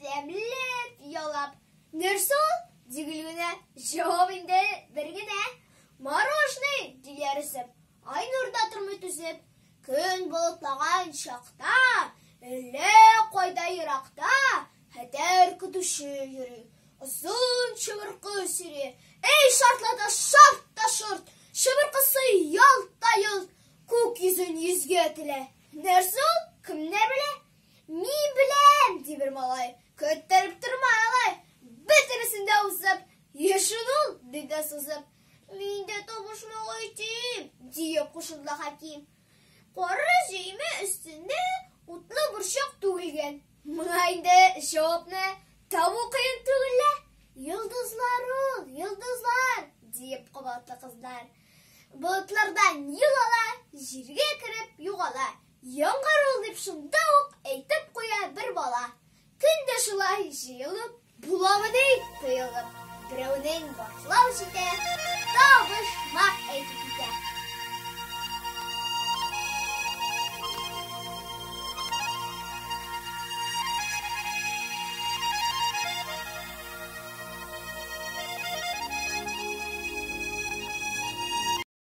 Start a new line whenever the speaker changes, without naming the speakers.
Тәмләп ялап. Нәрсә ул? Дигел генә. Җавап инде бер генә. Морожный, диярләсеп. Ай нурда тормый түзеп. Көн болытлаган чакта, әллә кайда еракта, хәтәр көтүче йөри. Озын чыбыркы сөйри. Эй, шартлата, шарт та шорт! Чыбыркысы ялт та йолт, күк йөзен йөзгә телә. Нәрсә ул? Кемнәр белә? Мин беләм, ди бер малай, көттереп тормай алай. Бөтенесен дә узып, ешын ул, ди дә сузып. Мин дә табышмага итим, дия кушылды Хәким. Коры җөймә өстендә утлы борчак түгелгән. Моңа инде җавапны табу кыен түгел лә. Йолдызлар ул, йолдызлар, диеп кабатлы кызлар. Болытлардан юл ала, җиргә кереп югала. Яңгыр ул, дип шунда ук әйтеп куя бер бала. Көн дә шулай җыелып, буламы ди, тыелып. Берәүнең башлау җитә, табышмак әйтеп китә.